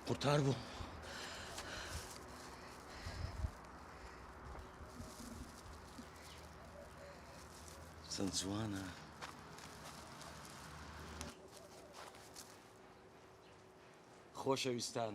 قورتار بوو. چەند جوانە. خۆشەویستان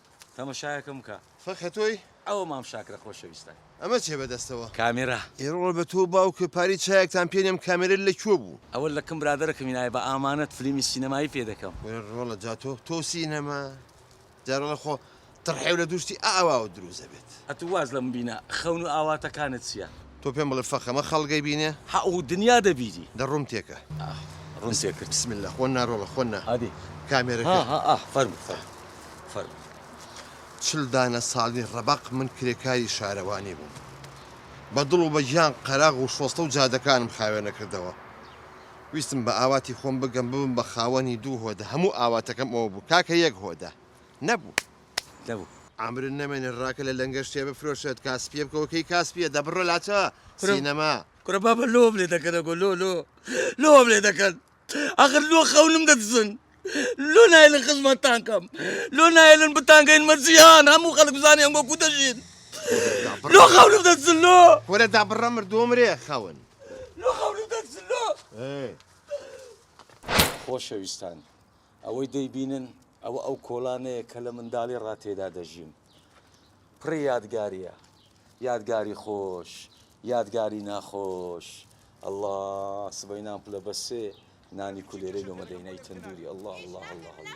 تەمەشایەکم بکە. فەقێ تۆی؟ ئەوە مام شاکرە خۆشەویستە. ئەمە چیە بەدەستەوە؟ کامێرا. ئێرۆڵ بە تۆو باوکە پاری چایەکتان پێ نێم کامێرە لە کوێ بوو؟ ئەوە لە کن برادەرەکەمی نایە بە ئامانەت فلیمی سینەمایی پێ دەکەم. کورە ڕۆڵە جا تۆ تۆو سینەما جا ڕۆڵە خۆ تڕحێو لە دوو شتی ئاواوە دروست ئەبێت. ئەتوو واز لە مبینە خەون و ئاواتەکانت چیە؟ تۆ پێم بڵێ فەخەمە خەڵک ئەیبینێ؟ هە و دنیا دەبینی. دە ڕووم تێکە. ئاه ڕووم تێکرد. بسم اللە خۆ نارۆڵە خۆ نا. ئەدی. کامێرەکە. ها ها ئاه فەرموو فەرموو فەرموو. چل دانە ساڵی ڕەبەق من کرێکاری شارەوانی بووم. بە دڵ و بە گیان قەراغ و شۆستە و جادەکانم خاوێنە کردەوە. ویستم بە ئاواتی خۆم بگەم ببم بە خاوەنی دوو هۆدە هەموو ئاواتەکەم ئەوە بوو کاکە یەک هۆدە نەبوو. لەو. عەمرت نەمێنێ ڕاکە لە لەنگە شتێ بفرۆشێت کاسپیە بکەوە کەی کاسپیە دە بڕۆ لاچە سینەما. کورە بابە لۆم لێ دەکەن ئەگۆ لۆ لۆ لۆم لێ دەکەن ئەخر لۆ خەونم دەدزن لۆ نایلن خزمەتتان کەم لۆ نایلن بتانگەین مەرجیان هەموو خەڵک بزانێ ئەنگۆ کو دەژین لۆ خەونم دەدزن لۆ کورە دا بڕە مردۆمرێ خەون لۆ خەونم دەدزن لۆ خۆشەویستان ئەوەی دەیبینن ئەوە ئەو کۆڵانەیە کە لە منداڵی ڕا تێدا دەژیم. پڕی یادگارییە. یادگاری خۆش، یادگاری ناخۆش. اللە سبەینان پلە بە سێ نانی کولێرەی لۆمە دەینای تەندوری اللە اللە اللە اللە.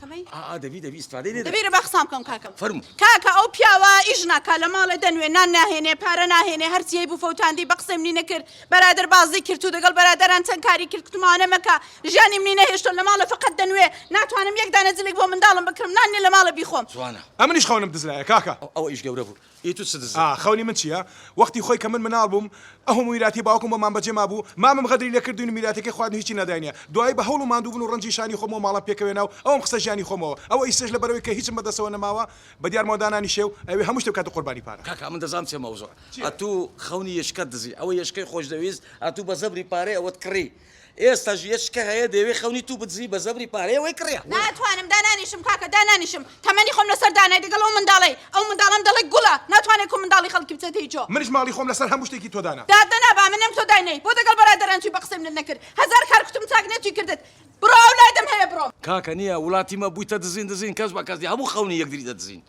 ئا ئا دەبی دەبی ئیسفادەی لێ دەکەی. دەبی با قسان بکەم کاکە. فەرموو. کاکە ئەو پیاوە ئیش ناکا لە ماڵێ دەنوێ نان ناهێنێ پارە ناهێنێ هەرچی هەیبوو فەوتاندی بە قسەی منی نەکرد بەرادەر بازی کرد و دەگەڵ بەرادەران چەند کاری کرد کوتم ئەوانە مەکە ژیانی منی نەهێشتۆ لە ماڵێ فەقەت دەنوێ ناتوانم یەک دانە جلێک بۆ منداڵم بکڕم نان نیە لە ماڵێ بیخۆم. جوانە. ئەمنیش خەونم دز لایە کاکە. ئەوە ئیش گەورە بوو ی تو چ دزە. ئا خەونی من چیە؟ وەختی خۆی کە من مناڵ بووم ئەهموو میراتی باوکم بۆمان بەجێ مابوو مامم غەدری لێ کردوین و میراتەکەی خواردن و هیچی نەداینە دوایی بە هەوڵ و ماندوو بون و ڕەنجی شانی خۆمەوە ماڵان پێکەوێنا و ئەوم خستە ژیانی خۆمەوە ئەوە ئیستەش لەبەرئەوەی کە هیچم بەدەستەوە نەماوە بەدیارمەوە دانانیشێ و ئەیەوێ هەموو شتێ بکاتە قوربانی پارە. کاکە من دەزانم چیە مەوزوع ئەتوو خەونی یەشکەت دزی ئەوە یەشکەی خۆشدەویست ئەتوو بە زەبری پارەی ئەوەت کڕی ئێستا ژیەچ کە هەیە دەیەوێ خەونی توو بدزی بە زەبری پارەیە وەی کڕیا. ناتوانم دانانیشم کاکە دانانیشم تەمەنی خۆم لەسەر دانای دەگەڵ ئەو منداڵەی ئەو منداڵەم دەڵێ گوڵە ناتوانێ کو منداڵی خەڵکی بچێتە هی جۆ. منیش ماڵی خۆم لەسەر هەموو شتێکی تۆ دانا. دادەنا با منم تۆ داینەی بۆ دەگەڵ بەرادەران چوی بە قسەی منت نەکرد هەزار کار کوتم چاک نەتوی کردت بڕۆ ئەولادم هەیە بڕۆ. کاکە نیە ولاتی مە بویتە دزین دزین کەس بە کەس نیە هەموو خەونی یەکدری دەدزین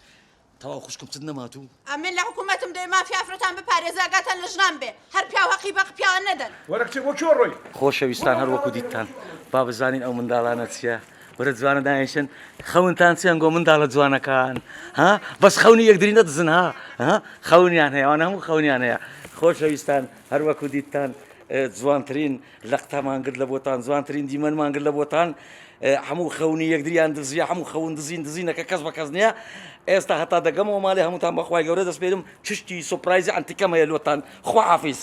تەواو خوشکم چت نەماتوو. ئەمن لە حکومەتم دەوێ مافی ئافرەتان بپارێزێ ئاگاتان لە ژنان بێ هەر پیاو هەقی بە پیاوان نەدەن. وەرە کچێ بۆ کێوە ڕۆی. خۆشەویستان هەر وەکو دیتتان با بزانین ئەو منداڵانە چیە ورە جوانە داینشن خەونتان چیان گۆ منداڵە جوانەکان ها بەس خەونی یەکدری نەدزن ها ها خەونیان هەیە ئەوانە هەموو خەونیان هەیە خۆشەویستان هەر وەکو دیتتان جوانترین لەقتەمان گرت لە بۆتان جوانترین دیمەنمان گرت لە بۆتان هەموو خەونی یەکدریان دزیە هەموو خەون دزین دزینەکە کەس بە کەس نییە ئێستا هەتا دەگەمەوە ماڵی هەمووتان بەخوای گەورە دەستپێرم چشتی سوپرایزی ئەنتیکەم هەیە لۆتان خوحافیز.